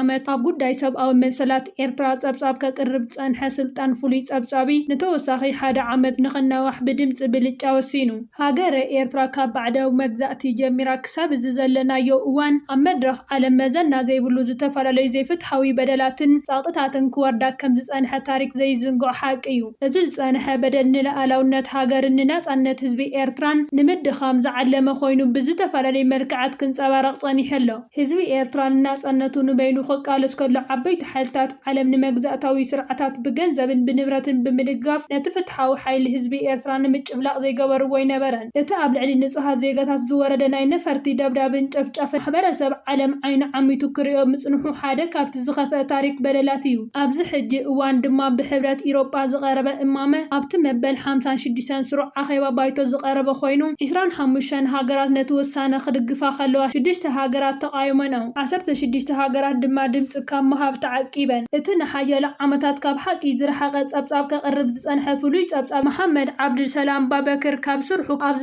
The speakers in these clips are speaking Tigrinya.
ዓመት ኣብ ጉዳይ ሰብኣዊ መሰላት ኤርትራ ጸብጻብ ከቅርብ ዝጸንሐ ስልጣን ፍሉይ ጸብጻቢ ንተወሳኺ ሓደ ዓመት ንክናዋሕ ብድምጺ ብልጫ ወሲኑ። ሃገረ ኤርትራ ካብ ባዕዳዊ መግዛእቲ ጀሚራ ክሳብ እዚ ዘለናዮ እዋን ኣብ መድረኽ ዓለም መዘና ዘይብሉ ዝተፈላለዩ ዘይፍትሓዊ በደላትን ጸቕጥታትን ክወርዳ ከም ዝጸንሐ ታሪኽ ዘይዝንግዖ ሓቂ እዩ። እዚ ዝጸንሐ በደል ንልኣላውነት ሃገርን ንናጻነት ህዝቢ ኤርትራን ንምድኻም ዝዓለመ ኮይኑ ብዝተፈላለዩ መልክዓት ክንጸባረቕ ጸኒሑ ኣሎ። ህዝቢ ኤርትራ ንናጸነቱ ንበይኑ ክቃለስ ከሎ ዓበይቲ ሓይልታት ዓለም ንመግዛእታዊ ስርዓታት ብገንዘብን ብንብረትን ብምድጋፍ ነቲ ፍትሓዊ ሓይሊ ህዝቢ ኤርትራ ንምጭፍላቕ ዘይገበርዎ ኣይነበረን። እቲ ኣብ ልዕሊ ንጹሃት ዜጋታት ዝወረደ ናይ ነፈርቲ ደብዳብን ጨፍጫፍን ማሕበረሰብ ዓለም ዓይኑ ዓሚቱ ክርእዮ ምጽንሑ ሓደ ካብቲ ዝኸፍኣ ታሪኽ በደላት እዩ። ኣብዚ ሕጂ እዋን ድማ ብሕብረት ኢሮጳ ዝቐረበ እማመ ኣብቲ መበል ሓምሳን ሽዱሽተን ስሩዕ ኣኼባ ባይቶ ዝቐረበ ኮይኑ፣ ዕስራን ሓሙሽተን ሃገራት ነቲ ውሳነ ክድግፋ ከለዋ ሽዱሽተ ሃገራት ተቓዊመንኦ። ዓሰርተ ሽዱሽተ ሃገራት ድማ ድምጺ ካብ ምሃብ ተዓቂበን። እቲ ንሓያሎ ዓመታት ካብ ሓቂ ዝረሓቐ ጸብጻብ ከቕርብ ዝጸንሐ ፍሉይ ጸብጻብ መሓመድ ዓብዱልሰላም ባበክር ካብ ስርሑ ኣብ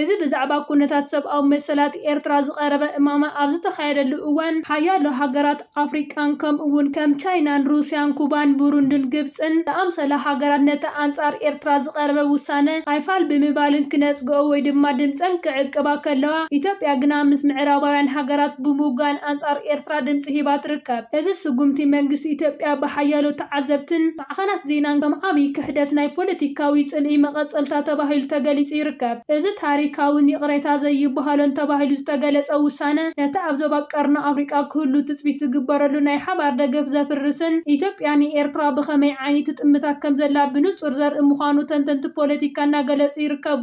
እዚ ብዛዕባ ኩነታት ሰብኣዊ መሰላት ኤርትራ ዝቐረበ እማመ ኣብ ዝተኻየደሉ እዋን፣ ሓያሎ ሃገራት ኣፍሪቃን ከምኡ'ውን ከም ቻይናን ሩስያን ኩባን ቡሩንድን ግብጽን ዝኣምሰላ ሃገራት ነቲ ኣንጻር ኤርትራ ዝቐረበ ውሳነ ኣይፋል ብምባልን ክነጽግኦ ወይ ድማ ድምጸን ክዕቅባ ከለዋ ኢትዮጵያ ግና ምስ ምዕራባውያን ሃገራት ብምውጋን ኣንጻር ኤርትራ ድምጺ ሂባ ትርከብ። እዚ ስጉምቲ መንግስቲ ኢትዮጵያ ብሓያሎ ተዓዘብትን ማዕኸናት ዜናን ከም ዓብዪ ክሕደት ናይ ፖለቲካዊ ጽልኢ መቐጸልታ ተባሂሉ ተገሊጹ ይርከብ። እዚ ታሪኻውን ይቕሬታ ዘይብሃሎን ተባሂሉ ዝተገለጸ ውሳነ፣ ነቲ ኣብ ዞባ ቀርኒ ኣፍሪቃ ክህሉ ትጽቢት ዝግበረሉ ናይ ሓባር ደገፍ ዘፍርስን ኢትዮጵያ ንኤርትራ ብኸመይ ዓይኒ ትጥምታ ከምዘላ ብንጹር ዘርኢ ምዃኑ ተንተንቲ ፖለቲካ እናገለጹ ይርከቡ።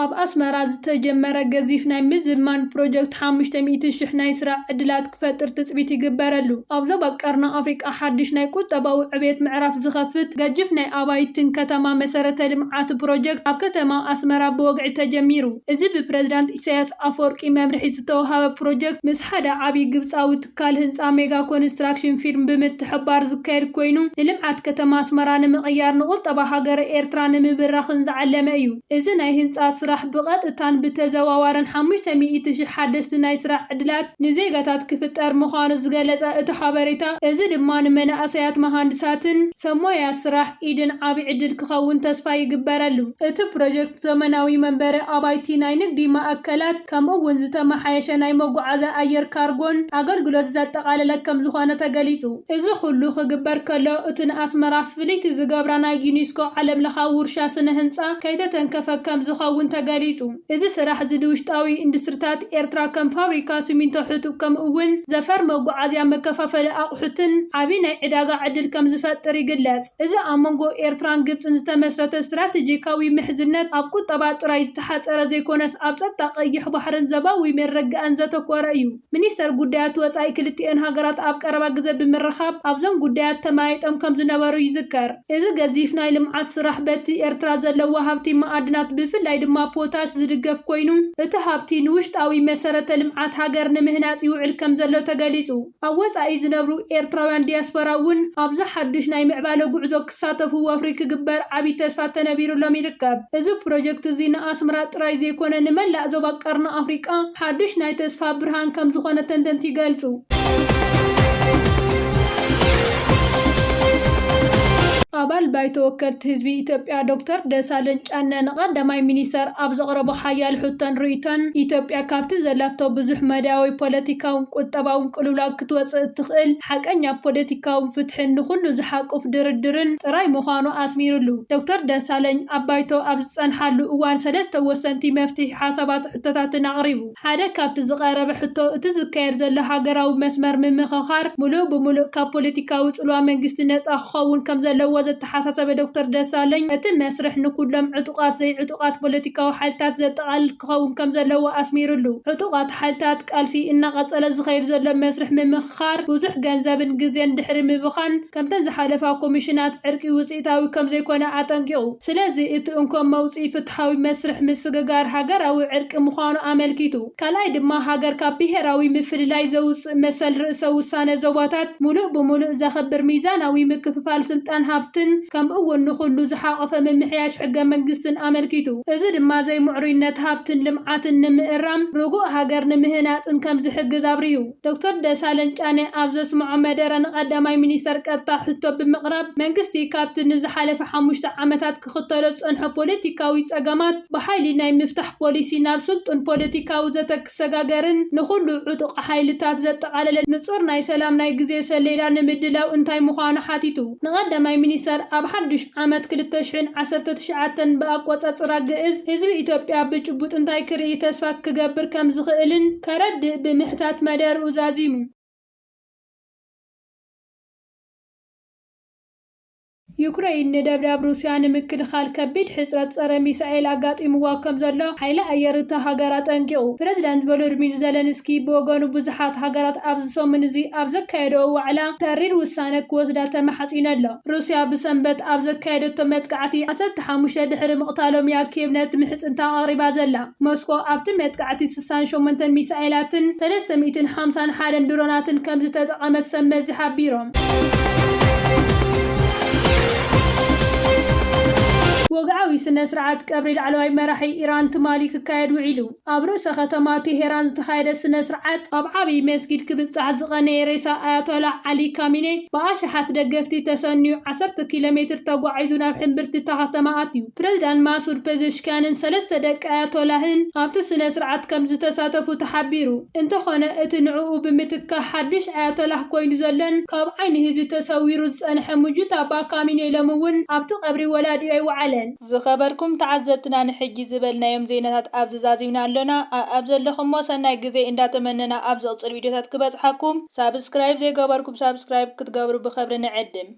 ኣብ ኣስመራ ዝተጀመረ ገዚፍ ናይ ምዝማን ፕሮጀክት ሓሙሽተ ሚእቲ ሽሕ ናይ ስራሕ ዕድላት ክፈጥር ትጽቢት ይግበረሉ። ኣብ ዞባ ቀርኒ ኣፍሪቃ ሓድሽ ናይ ቁጠባዊ ዕብየት ምዕራፍ ዝኸፍት ገጅፍ ናይ ኣባይትን ከተማ መሰረተ ልምዓት ፕሮጀክት ኣብ ከተማ ኣስመራ ብወግዒ ተጀሚሩ። እዚ ብፕረዚዳንት ኢሳይያስ ኣፍወርቂ መምርሒ ዝተውሃበ ፕሮጀክት ምስ ሓደ ዓቢ ግብጻዊ ትካል ህንፃ ሜጋ ኮንስትራክሽን ፊርም ብምትሕብባር ዝካየድ ኮይኑ ንልምዓት ከተማ ኣስመራ ንምቕያር ንቁጠባ ሃገረ ኤርትራ ንምብራኽን ዝዓለመ እዩ። እዚ ናይ ህንፃ ስራሕ ብቐጥታን ብተዘዋዋርን ሓሙሽተ ሚእቲ ሽሕ ሓደስቲ ናይ ስራሕ ዕድላት ንዜጋታት ክፍጠር ምዃኑ ዝገለፀ እቲ ሓበሬታ እዚ ድማ ንመናእሰያት መሃንድሳትን ሰብሞያ ስራሕ ኢድን ዓብይ ዕድል ክኸውን ተስፋ ይግበረሉ። እቲ ፕሮጀክት ዘመናዊ መንበሪ ኣባይቲ፣ ናይ ንግዲ ማእከላት፣ ከምኡ እውን ዝተመሓየሸ ናይ መጓዓዝያ ኣየር ካርጎን ኣገልግሎት ዘጠቓለለ ከምዝኾነ ተገሊፁ። እዚ ኹሉ ክግበር ከሎ እቲ ንኣስመራ ፍልይቲ ዝገብራ ናይ ዩኒስኮ ዓለም ለኻዊ ውርሻ ስነ ህንፃ ከይተተንከፈ ከምዝኸውን ተገሊፁ። እዚ ስራሕ እዚ ንውሽጣዊ ኢንዱስትሪታት ኤርትራ ከም ፋብሪካ ስሚንቶ ሕጡብ ከምኡ እውን ዘፈር መጓዓዝያ መከፋፈሊ ኣቑሑትን ዓብዪ ናይ ዕዳጋ ዕድል ከምዝፈጥር ይግለፅ። እዚ ኣብ መንጎ ኤርትራን ግብፅን ዝተመስረተ ስትራቴጂካዊ ምሕዝነት ኣብ ቁጠባ ጥራይ ዝሓጸረ ዘይኮነስ ኣብ ጸጥታ ቀይሕ ባሕርን ዘባዊ መረጋእን ዘተኮረ እዩ። ሚኒስተር ጉዳያት ወጻኢ ክልቲኤን ሃገራት ኣብ ቀረባ ግዘ ብምርኻብ ኣብዞም ጉዳያት ተመያይጦም ከምዝነበሩ ይዝከር። እዚ ገዚፍ ናይ ልምዓት ስራሕ በቲ ኤርትራ ዘለዋ ሃብቲ መኣድናት ብፍላይ ድማ ፖታሽ ዝድገፍ ኮይኑ እቲ ሃብቲ ንውሽጣዊ መሰረተ ልምዓት ሃገር ንምህናጽ ይውዕል ከምዘሎ ተገሊጹ። ኣብ ወጻኢ ዝነብሩ ኤርትራውያን ዲያስፖራ እውን ኣብዚ ሓዱሽ ናይ ምዕባለ ጉዕዞ ክሳተፉ ወፍሪ ክግበር ዓቢ ተስፋ ተነቢሩሎም ይርከብ። እዚ ፕሮጀክት እዚ ንኣስመራ ጥራይ ዘይኮነ ንመላእ ዞባ ቀርኒ ኣፍሪቃ ሓዱሽ ናይ ተስፋ ብርሃን ከም ዝኾነ ተንተንቲ ይገልጹ። ኣባል ባይቶ ወከልቲ ህዝቢ ኢትዮጵያ ዶክተር ደሳለኝ ጫነ ንቀዳማይ ሚኒስተር ኣብ ዘቕረቦ ሓያል ሕቶን ርእይቶን ኢትዮጵያ ካብቲ ዘላቶ ብዙሕ መዳያዊ ፖለቲካዊ ካብ ቁጠባዊ ቅልውላው ክትወጽእ እትኽእል፣ ሓቀኛ ፖለቲካዊ ፍትሕን ንኹሉ ዝሓቁፍ ድርድርን ጥራይ ምዃኑ ኣስሚርሉ። ዶክተር ደሳለኝ ኣብ ባይቶ ኣብ ዝጸንሓሉ እዋን ሰለስተ ወሰንቲ መፍትሒ ሓሳባትን ሕቶታትን ኣቕሪቡ። ሓደ ካብቲ ዝቐረበ ሕቶ እቲ ዝካየድ ዘሎ ሃገራዊ መስመር ምምኽኻር ምሉእ ብምሉእ ካብ ፖለቲካዊ ጽልዋ መንግስቲ ነጻ ክኸውን ከም ዘለዎ ዘተሓሳሰበ ዶክተር ደሳለኝ እቲ መስርሕ ንኩሎም ዕጡቓት ዘይዕጡቓት ፖለቲካዊ ሓይልታት ዘጠቓልል ክኸውን ከምዘለዎ ኣስሚርሉ። ዕጡቓት ሓይልታት ቃልሲ እናቐፀለ ዝኸይድ ዘሎ መስርሕ ምምክኻር ብዙሕ ገንዘብን ግዜን ድሕሪ ምብኻን ከምተን ዝሓለፋ ኮሚሽናት ዕርቂ ውፅኢታዊ ከምዘይኮነ ኣጠንቂቑ። ስለዚ እቲ እንኮ መውፅኢ ፍትሓዊ መስርሕ ምስግጋር ሃገራዊ ዕርቂ ምዃኑ ኣመልኪቱ። ካልኣይ ድማ ሃገር ካብ ብሄራዊ ምፍልላይ ዘውፅእ፣ መሰል ርእሰ ውሳነ ዞባታት ምሉእ ብምሉእ ዘኽብር ሚዛናዊ ምክፍፋል ስልጣን ሃብትን ከምኡ'ውን ንኹሉ ዝሓቖፈ ምምሕያሽ ሕገ መንግስትን ኣመልኪቱ። እዚ ድማ ዘይምዕሩይነት ሃብትን ልምዓትን ንምእራም ርጉእ ሃገር ንምህናጽን ከም ዝሕግዝ ኣብሪሁ። ዶክተር ደሳለኝ ጫነ ኣብ ዘስምዖ መደረ ንቀዳማይ ሚኒስተር ቀጥታ ሕቶ ብምቕራብ መንግስቲ ካብቲ ንዝሓለፈ ሓሙሽተ ዓመታት ክኽተሎ ዝጸንሖ ፖለቲካዊ ጸገማት ብሓይሊ ናይ ምፍታሕ ፖሊሲ ናብ ስልጡን ፖለቲካዊ ዘተ ክሰጋገርን ንኹሉ ዕጡቕ ሓይልታት ዘጠቓለለ ንጹር ናይ ሰላም ናይ ግዜ ሰሌዳ ንምድላው እንታይ ምዃኑ ሓቲቱ ንቀዳማይ ሚኒስተር ኣብ ሓዱሽ ዓመት ክልተ ሽሕን ዓሰርተ ትሽዓተን ብኣቆጸጽራ ግእዝ ህዝቢ ኢትዮጵያ ብጭቡጥ እንታይ ክርኢ ተስፋ ክገብር ከምዝኽእልን ከረድእ ብምሕታት መደርኡ ዛዚሙ። ዩክረይን ንደብዳብ ሩስያ ንምክልኻል ከቢድ ሕጽረት ጸረ ሚሳኤል ኣጋጢምዋ ከም ዘሎ ሓይሊ ኣየር እታ ሃገር ኣጠንቂቑ። ፕረዚደንት ቮሎድሚር ዘለንስኪ ብወገኑ ብዙሓት ሃገራት ኣብዚ ሰሙን እዚ ኣብ ዘካየደኦ ዋዕላ ተሪር ውሳነ ክወስዳ ተማሕጺኑ ኣሎ። ሩስያ ብሰንበት ኣብ ዘካየደቶ መጥቃዕቲ ዓሰርተ ሓሙሽተ ድሕሪ ምቕታሎም እያ ኪየቭ ነቲ ምሕጽንታ ኣቕሪባ ዘላ። ሞስኮ ኣብቲ መጥቃዕቲ ስሳን ሸሞንተን ሚሳኤላትን ሰለስተ ሚእትን ሓምሳን ሓደን ድሮናትን ከምዝተጠቐመት ሰብ መዚ ሓቢሮም። ወግዓዊ ስነ ስርዓት ቀብሪ ላዕለዋይ መራሒ ኢራን ትማሊ ክካየድ ውዒሉ። ኣብ ርእሰ ከተማ ቴሄራን ዝተኻየደ ስነ ስርዓት፣ ኣብ ዓብዪ መስጊድ ክብጻሕ ዝቐነየ ሬሳ ኣያቶላህ ዓሊ ካሚኔ ብኣሽሓት ደገፍቲ ተሰንዩ ዓሰርተ ኪሎ ሜትር ተጓዒዙ ናብ ሕምብርቲ እታ ከተማ ኣትዩ። ፕሬዚዳንት ማሱድ ፔዘሽኪያንን ሰለስተ ደቂ ኣያቶላህን ኣብቲ ስነ ስርዓት ከምዝተሳተፉ ተሓቢሩ። እንተኾነ እቲ ንዕኡ ብምትካእ ሓድሽ ኣያቶላህ ኮይኑ ዘሎን ካብ ዓይኒ ህዝቢ ተሰዊሩ ዝፀንሐ ሙጁታባ ካሚኔ ሎሚ እውን ኣብቲ ቀብሪ ወላዲኡ ኣይወዓለን። ዝኸበርኩም ተዓዘብትና ንሕጂ ዝበልናዮም ዜናታት ኣብዚ ዛዚምና ኣሎና ኣኣብ ዘለኹሞ ሰናይ ግዜ እንዳተመነና ኣብ ዝቕጽል ቪድዮታት ክበጽሓኩም ሳብስክራይብ ዘይገበርኩም ሳብስክራይብ ክትገብሩ ብኽብሪ ንዕድም።